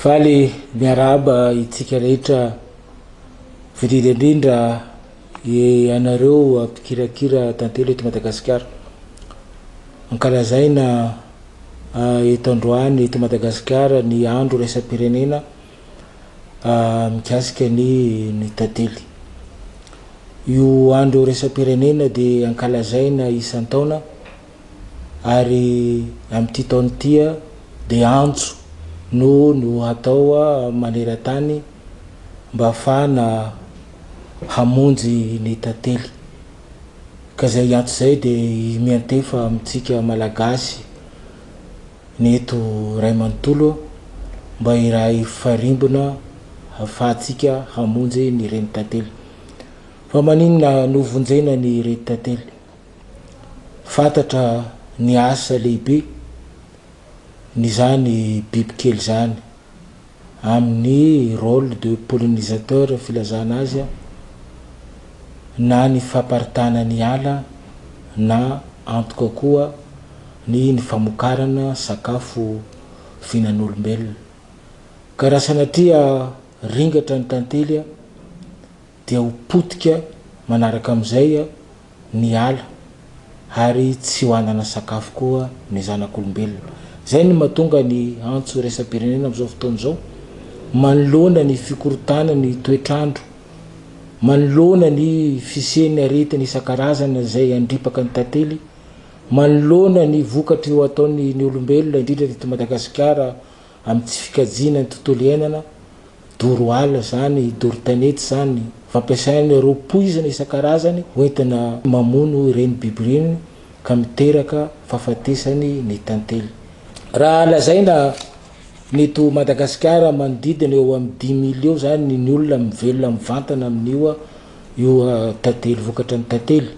Faly miarahaba itsika rehetra voadydy indrindra ianareo mpikirakira tantely eto Madagasikara. Ankalazaina eto androany eto Madagasikara ny andro iraisam-pirenena mikasika ny ny tantely. Io andro iraisam-pirenena dia ankalazaina isan-taona. ary amin'ity taona ity dia antso no no hatao maneran-tany mba hahafahana hamonjy ny tantely. Ka izay antso izay dia miantefa amintsika Malagasy ny eto iray manontolo mba hiray farimbona hahafahantsika hamonjy ny renitantely. Fa maninona no vonjena ny renitantely? Fantatra ny asa lehibe n'izany bibikely izany amin'ny rôle de pollinisateur filazana azy na ny famparitana ny ala na antoka koa ny ny famokarana sakafo fihinan'olombelona ka raha sanatria ringatra ny tantely dia ho potika manaraka amin'izay ny ala ary tsy ho hanana sakafo koa ny zanak'olombelona. Izay no mahatonga ny antso iraisam-pirenena amin'izao fotoana izao manoloana ny fikorontanan'ny toetr'andro, manoloana ny fisian'ny aretina isan-karazany izay handripaka ny tantely, manoloana ny vokatry ho ataon'ny olombelona indrindra eto Madagasikara, Amin'ny tsy fikajiana ny tontolo iainana, doro ala izany, doro tanety izany, fampiasain'ireo poizina isan-karazany hoentina mamono ireny biby ireny ka miteraka fahafatesany ny tantely. Raha lazaina ny eto Madagasikara manodidina eo amin'ny dimy miliô izany ny olona mivelona mivantana amin'io io tantely vokatra ny tantely.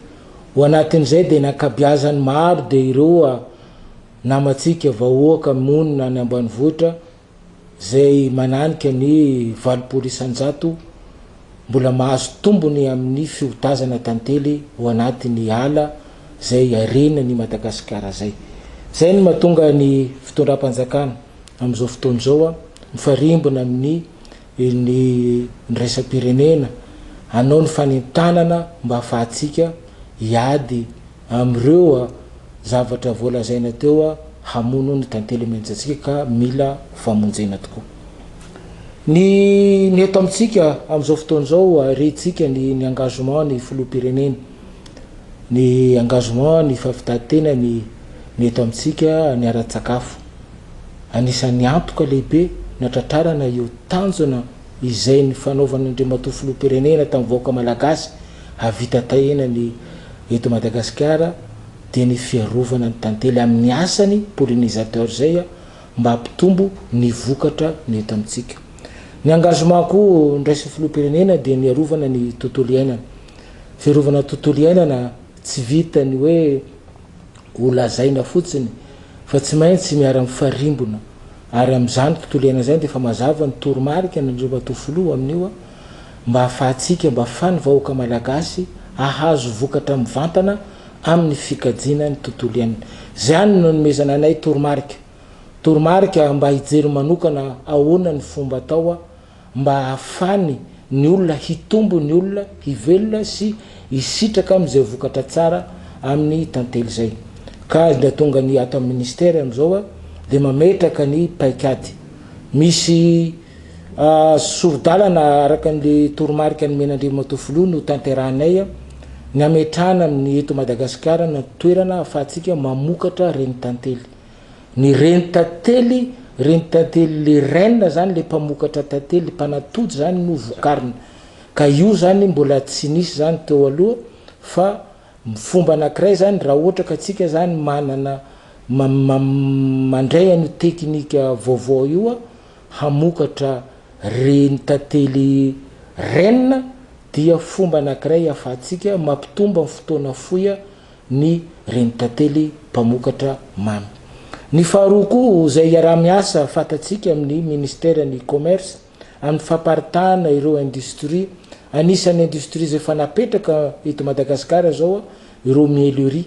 Ho anatin'izay dia ny ankabiazany maro dia ireo namantsika vahoaka monina any ambanivohitra izay mananika ny valopolo isan-jato mbola mahazo tombony amin'ny fiotazana tantely ho anatin'ny ala izay harena ny Madagasikara izay. Izay no mahatonga ny fitondram-panjakana amin'izao fotoana izao mifarimbona amin'ny ny niraisam-pirenena hanao ny fanentanana mba hahafahantsika hiady Amin'ireo zavatra voalazaina teo hamono ny tantely mianjantsika ka mila famonjena tokoa. Ny ny eto amintsika amin'izao fotoana izao rentsika ny ny engagement ny filoham-pirenena, ny engagement ny fahavitan-tenany ny eto amintsika ny ara-tsakafo. Anisan'ny antoka lehibe natratrarana io tanjona izay nifanaovan' Andriamatoa Filoham-pirenena tamin'ny vahoaka Malagasy hahavita tahina ny eto Madagasikara dia ny fiarovana ny tantely amin'ny asany pollinisateur izay mba hampitombo ny vokatra ny eto amintsika. Ny engagement ko niraisin'ny Filoham-pirenena dia ny arovana ny tontolo iainana. Fiarovana tontolo iainana tsy vita ny hoe. Ho lazaina fotsiny fa tsy maintsy miara-mifarimbona ary amin'izany tontolo iainana izany dia efa mazava ny toromarika nandriamatoa filoha amin'io mba hahafahantsika mba afahan'ny vahoaka malagasy hahazo vokatra mivantana amin'ny fikajiana ny tontolo iainana. Izany no anomezana anay toromarika. Toromarika mba hijery manokana ahoana ny fomba atao mba hahafany ny olona hitombo ny olona hivelona sy hisitraka amin'izay vokatra tsara amin'ny tantely izay. Ka dia tonga ny ato amin'ny Ministera amin'izao dia mametraka ny paikady. Misy sori-dalana araka an'ilay toromarika nomen'Andriamatoa Filoha notanterahinay ny hametrahana amin'ny eto Madagasikara ny toerana ahafahantsika mamokatra reny tantely. Ny reny tantely, reny tantely le reine zany le mpamokatra tantely, mpanatody zany no vokariny. Ka io zany mbola tsy nisy zany teo aloha fa fomba anakiray zany raha ohatra ka tsika zany manana mandray an'io teknika vaovao io hamokatra reny tantely reine dia fomba anakiray afahatsika mampitombo am fotoana fohy ny renitantely mpamokatra mamy. Ny faharoa koa izay iaraha-miasa fantatsika amin'ny Ministeran'ny Commerce amin'ny famparitahana ireo industrie, anisan'ny industrie izay efa napetraka eto Madagasikara izao ireo miellerie,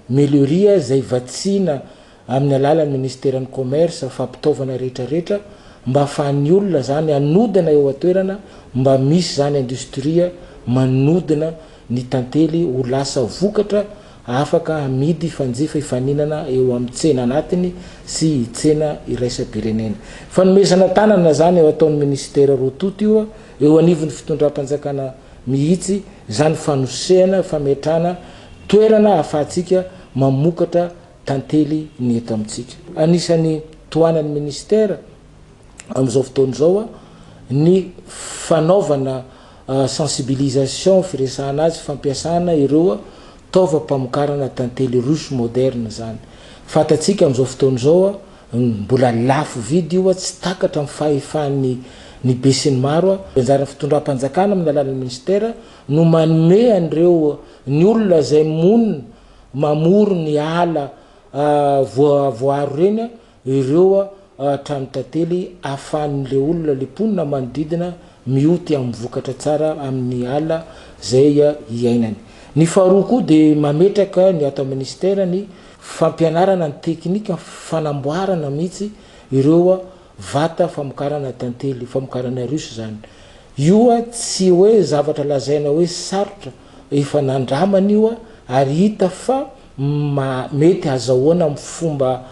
miellerie izay vatsiana amin'ny alalan'ny minisiteran'ny Commerce fampitaovana rehetra rehetra mba afahan'ny olona izany hanodina eo an-toerana mba misy izany industrie manodina ny tantely ho lasa vokatra afaka hamidy fanjifa hifaninana eo amin'ny tsena anatiny sy tsena iraisam-pirenena. Fanomezana tanana izany eo ataon'ny minisitera roa tonta io eo anivon'ny fitondram-panjakana mihitsy izany fanosehana fametrahana toerana ahafahantsika mamokatra Tantely ny eto amintsika. Anisan'ny tohanan'ny Minisitera amin'izao fotoana izao ny fanaovana sensibilisation, firesahana azy, fampiasana ireo taovam-pamokarana tantely ruche moderne izany. Fantatsika amin'izao fotoana izao mbola lafo vidy io, tsy takatra amin'ny fahefan'ny ny besinimaro. Ny anjaran'ny fitondram-panjakana amin'ny alalan'ny Minisitera no manome an'ireo ny olona izay monina, Mamory ny ala voavoaro ireny ireo trano tantely ahafahan'ilay olona, ilay mponina manodidina mioty amin'ny vokatra tsara amin'ny ala izay iainany. Ny faharoa koa dia mametraka ny ato amin'ny Minisitera ny fampianarana ny teknika, fanamboarana mihitsy ireo Vata famokarana tantely, famokarana russe zany. Io a tsy hoe zavatra lazaina hoe sarotra, efa nandramana io a ary hita fa mety hazahoana am fomba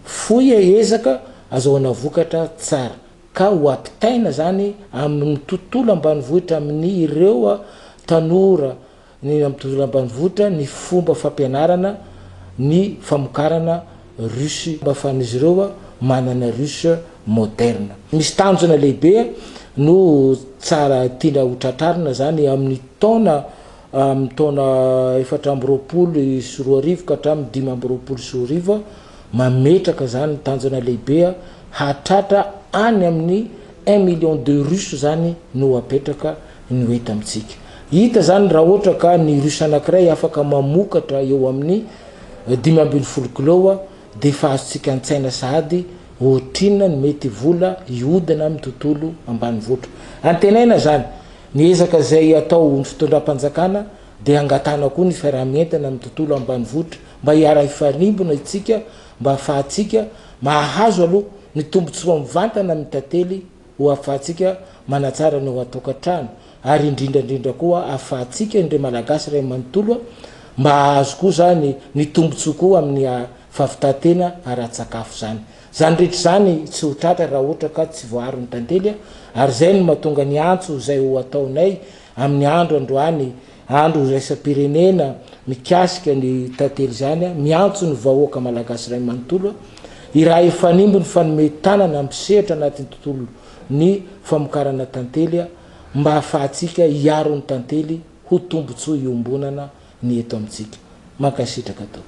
fohy a ezaka azahoana vokatra tsara ka ho apitaina zany am ny tontolo ambanivohitra am ny ireo a tanora Ny amin'ny tontolo ambanivohitra ny fomba fampianarana ny famokarana ruche mba afahan'izy ireo manana ruche moderne. Misy tanjona lehibe no tsara tiana ho tratrarina izany amin'ny taona amin'ny taona efatra amby roapolo sy roa arivo ka hatramin'ny dimy amby roapolo sy roa arivo, mametraka izany tanjona lehibe hahatratra any amin'ny un million de ruche izany no apetraka. no hita amintsika. Hita izany raha ohatra ka ny russe anankiray afaka mamokatra eo amin'ny dimy ambin'ny folo kiloa dia efa azontsika an-tsaina sahady ohatrinona ny mety vola hihodina amin'ny tontolo ambanivohitra. Antenaina izany, ny ezaka izay ataon'ny fitondram-panjakana dia hangatahana koa ny fiaraha-mientana amin'ny tontolo ambanivohitra mba hiara-hifarimbona isika mba hahafahantsika mahazo aloha ny tombontsoa mivantana amin'ny tantely Ho afahantsika manatsara ny ao an-tokantrano ary indrindra indrindra koa ahafahantsika ny ry Malagasy iray manontolo mba hahazo koa izany ny tombontsoa koa amin'ny fahavitan-tena ara-tsakafo izany. Izany rehetra izany tsy ho tratra raha ohatra ka tsy voaaro ny tantely ary izay no mahatonga ny antso izay ho ataonay amin'ny andro androany Andro iraisam-pirenena mikasika ny tantely izany, miantso ny vahoaka Malagasy iray manontolo hiraha hifanimby ny fanome tanana mpisehatra anatin'ny tontolo ny famokarana tantely mba hahafahantsika hiaro ny tantely ho tombotsoa iombonana ny eto amintsika. Mankasitraka Tompo.